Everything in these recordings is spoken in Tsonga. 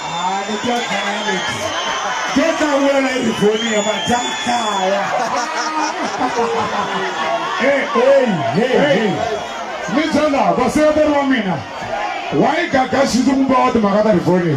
Ah, ni twa khale. Geza wula la yi voni ya majakaya. Hey, hey, hey, hey. Ni byela vaseketeri va mina. Wa yi gagaxisa ku va wa timhaka ta rivoni.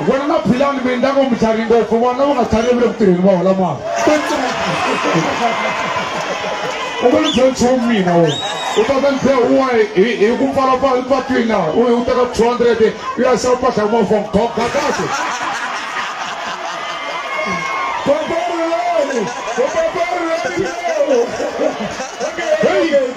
vona na philani mi endla ngo mutlhari ngopfu vona va nga tlhari vule ku tirheni va hola mali u nga ni byela nchumu mina wo u ta ka ndzehe un'wana hi ku pfalapfala epatwini laha u teka two hundred u ya xava mpahla ya mafon goga kahle Hey,